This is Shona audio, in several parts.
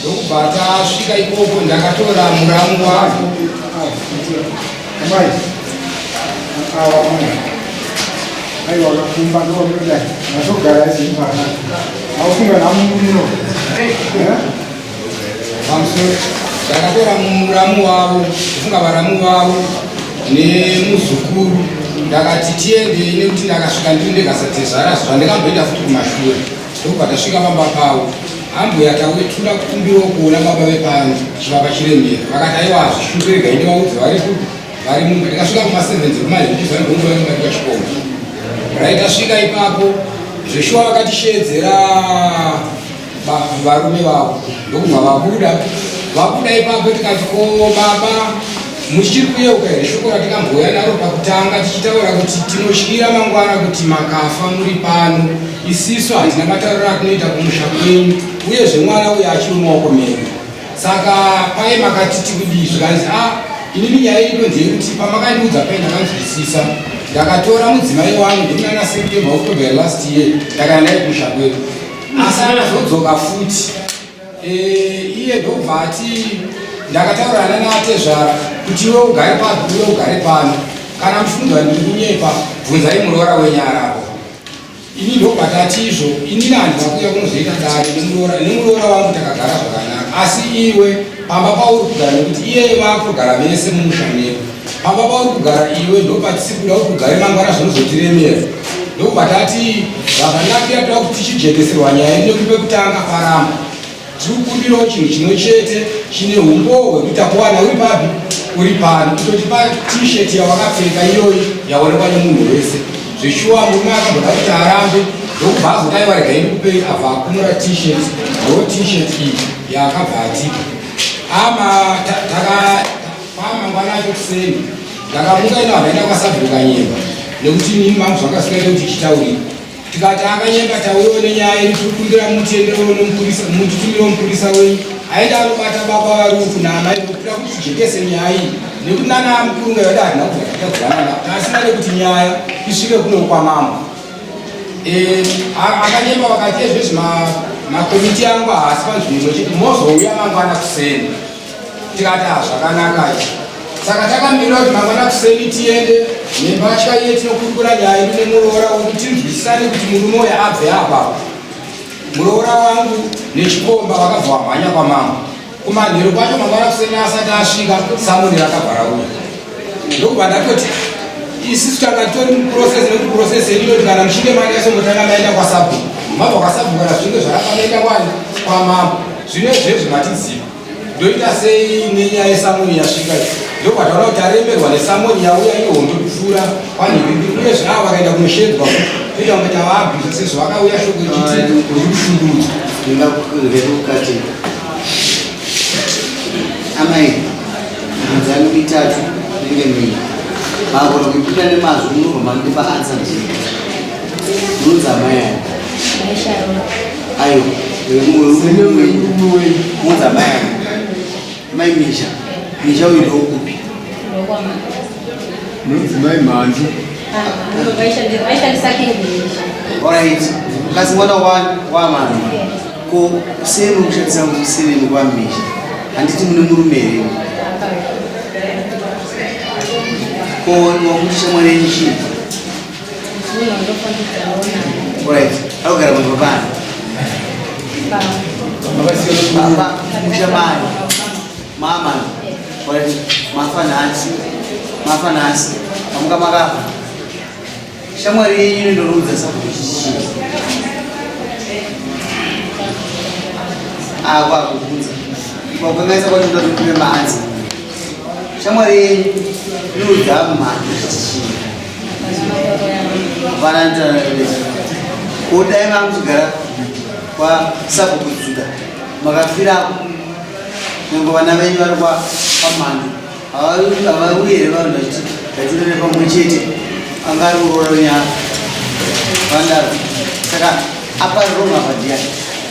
ndokubva tasvika ikoko ndakatora muramu wavo aiwa wakakumba ndowamuda ndazogara izipana aufunga namuno pamusoro ndakatora muramu wavo kufunga varamu vavo nemuzukuru ndakati tiendei nekuti ndakasvika ndiri ndekasatezvara zvandikamboita futi kumashure Ndobva tasvika pamba pavo ambuya tawe tinoda kukumbirawo kuona baba vepano zvivaka chirembera vakati aiwa zvishungu rega inde vaudze vari kupi vari mumba tikasvika kumasevenzi kumaizvizangongovaimbaika chikoma rai tasvika ipapo zveshuwa vakatishedzera varume vavo ndokubva vabuda vabuda ipapo tikati ko baba Muchiri kuyeuka here shoko ratakambouya naro pakutanga tichitaura kuti tinotyira mangwana kuti makafa muri pano isisu hatina matariro atinoita kumusha kwenyu uyezve mwana uyo achiri mumaoko menyu saka paye makati tikudii zvikanzi a ah, inini nyaya ino ndeyekuti pamakandiudza paye ndakanzwisisa ndakatora mudzimai wangu ndikunana september october last year ndakana naye kumusha kwedu asi anazodzoka futi Eh, iye ndobva ati ndakataurana natezvara kuti iwe ugare pano iwe ugare pano kana mufunga ndiri kunyepa bvunzai muroora wenyara apo ini ndobva tati izvo ini nani vakuya kunozoita dare nemuroora nemuroora wangu takagara zvakanaka asi iwe pamba pauri kugara nekuti iyeye vakugara vese mumusha medu Pamba pauri kugara iwe ndopatisi kuda kuti ugare mangwana zvinozotiremera ndokubva tati zvakanakira toda kuti tichijekeserwa nyaya ino kupe kutanga paramba tiri kukumbirawo chinhu chimwe chete chine umbowo hwekuita kuwana uri papi uri pano kutotipa t-shirt yawakapfeka iyoyi yaonekwa nemunhu wese zveshuwa murume akamboda kuti arambe ndokubva azodai varega ini kupei abva akumura t-shirt ndo t-shirt iyi yaakabva atipa ama taka Mangwana acho kuseni ndakamuka ino akaenda kwasabhuku kanyemba nekuti nini mangu zvakasikaita kuti chitaurira tikati akanyemba taurewo nenyaya yedu tiri kumbira mutienderewo nomupurisa mutitumire mupurisa wenyu aenda anobata baba varufu naamai nokuda kuti tijekese nyaya iyi nekuti nana mukuru ngayada hatina kuzakatadzanana asina nekuti nyaya isvike kunokwa mambo eh, akanyemba vakati ezvezvi makomiti angu haasi panzvimbo chete mozouya mangwana kuseni tikati ah, zvakanaka izvi saka takamira kuti mangwana kuseni tiende nembatya iye tinokurukura nyaya yedu nemuroora wedu tinzwisisane kuti murume uyo abve apa muroora wangu nechikomba vakabva wamhanya kwamambo kumanhero kwacho mangwana kuseni asati asvika samoni rakavhara uya ndokubva ndatoti isisu tanga titori muprocess nekuti process yedu inoti kana muchinge mari yasongotanga maenda kwasabhuku mabva kwasabhuku kana zvinge zvakafanoita kwani kwamambo zvino izvezvi matiziva ndoita sei nenyaya yesamoni yasvika ndopataona kuti aremberwa nesamoni yauya iyo hondo kupfuura panhirindi uye zvinava vakaenda kunoshedzwa kuita kunge tavabvisa sezvo vakauya shoko ichiti rikushundudzwa ndingakureukati amai midzani mitatu nenge mii magona kuipinda nemazwi munobva mandipa ansa ndii munonzi amai aya Ayo, muza mai mai Misha, Misha uyu ndokupi? Nonzi mai Mhandu. Alright, kasi mwana wamana ko sei muri kushandisa museveni kwa Misha? Handiti mune murume here? Ko wakuti shamwari yenyu chii? mama mafa nhasi mafa nhasi amuka makafa shamwari yenyu ndinoudza sakuchii akwakuudza kwakangaisa kwacho ndatotume maanzi shamwari inoudza mhani vanandikodai vamuzigara kwasabukujuda makafirako nyange vana venyu vari kwapamhani havauye here vanhu vachiti vatirere pamwe chete anga ari uroro nyaya vandaro saka apa roma padiyani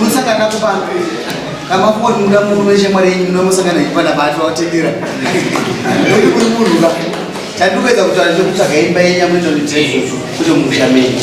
unosangana kupana amafoni muda munhu neshamwari yenyu unomosangana ipana bati watendera uri kuri munhu ka tandikuedza kutaura nekutsvaga imba yenyu amunoita kuti musha menyu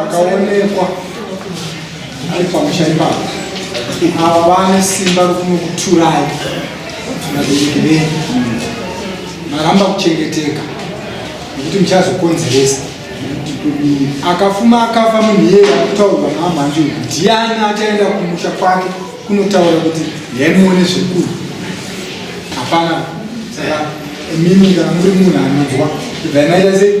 akaonekwa ari pamusha ipapo ava vane simba rokunokuturai vabereki venyu maramba kuchengeteka nekuti muchazokonzeresa akafuma akafa munhu iyeye akutaurwa naamhanje uyu ndiani achaenda kumusha kwake kunotaura kuti yaimuone zvekuru hapana saka mimi kana muri munhu anonzwa ibvai maita sei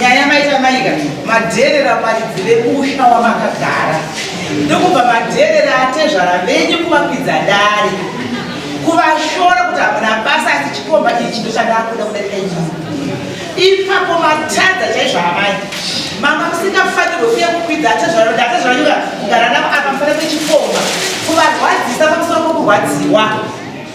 Nyaya maita maika madherera paridzi vemusha wamakagara ndokubva madherera atezvara venyu kuvakwidza dare kuvashora kuti hamuna basa asi chikomba ichi ndochandakuda kudarika inyu ipapo matadza chaizvo amai mama musingafanirwe kuya kukwidza atezvara kuti atezvara nyuka kugara navo apa mufane kwechikomba kuvarwadzisa pamusoro pokurwadziwa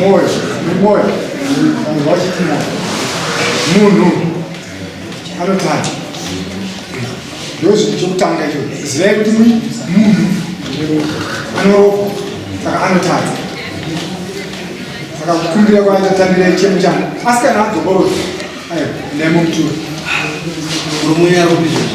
Moyo, moyo, wachiti moyo. Munhu anotanga. Ndozvinhu chokutanga icho. Zivai kuti munhu anorokwa saka anotadza. Saka kukumbira kwaita tambira chemo changu. Asi kana adzokorora, ayo, ndaimukutura. Murume uya aropizvozvo.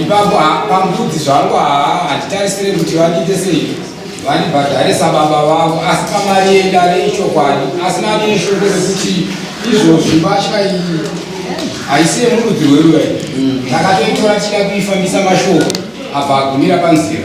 ipapo pambudzi zvangu haa hatitarisire kuti vandiite sei vandibhadharisa baba vavo asi pamari yendare ichokwadi asi nani neshoko rekuti izvozvi mbatya iyi haisiye murudzi rweruya ndakatoitora tichida kuifambisa mashoko abva agumira panzira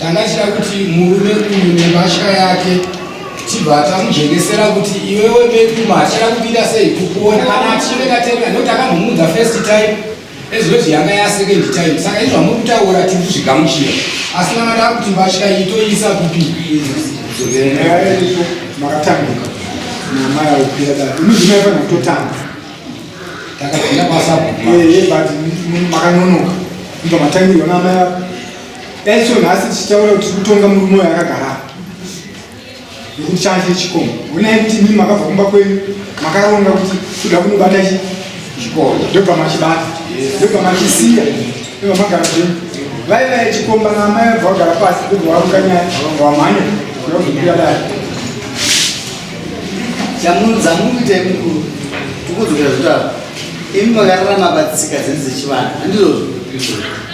Tanga tichida kuti murume uyu nembatya yake tibva tamujengesera kuti iwewe beduma achada kupinda sei kukuona kana achinge katenga nokuti akambomuudza first time ezvoti yanga yasecond time saka izvo amuri kutaura tiri kuzvigamuchira asi manga taa kuti mbatya iyi toiisa kupi makatambuka nyama yaupira dai imizvima ifana kutotanga takapinda kwasabumakanonoka inga matangirwa naamai Dai so nhasi tichitaura kuti kutonga murume uyo akagara nekuti changa chiri chikomo onai kuti imi makabva kumba kwenyu makaronga kuti kuda kunobata chi chikomo ndobva machibata ndobva machisiya ndobva magara zvenyu vai vai chikomba naamai vabva vagara pasi ndobva waruka nyaya vabva wamhanya ndobvira dai chamunoita imukuru tikudzokera zvitaro imi makararama patsika dzedu dzechivanhu handizvozvo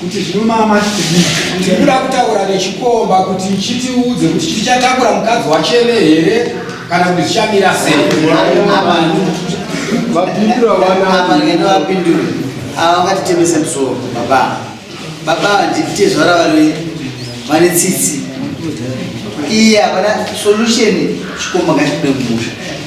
kuti zvinomama tikuda kutaura nechikomba kuti chitiudze kuti chichatakura mukadzi wacheve here kana kuti zvichamira sei vapindura vanaaende vapindure ava vangatitemese musoro baba baba nditezvara vari vane tsitsi iye havana solution chikomba ngachikude kumusha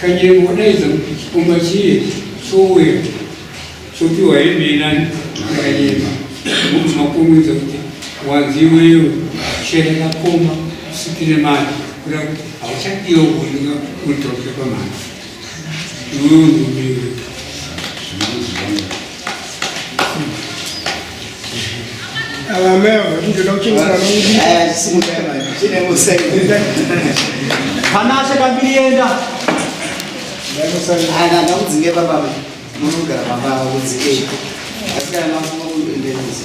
Kanyero wadaidza kuti chikomba chiye chouya chopiwa hembe inani akanyema kuti makomwidza kuti wanzi iweyo shera kakoma usipire mari kuda kuti hauchadiwa kuoneka unotaurika pamari iwewe ndumire Panashe pambirienda. Ana ndakudzinge baba munogara baba kudzike. Asi kana mafunga kuendereza.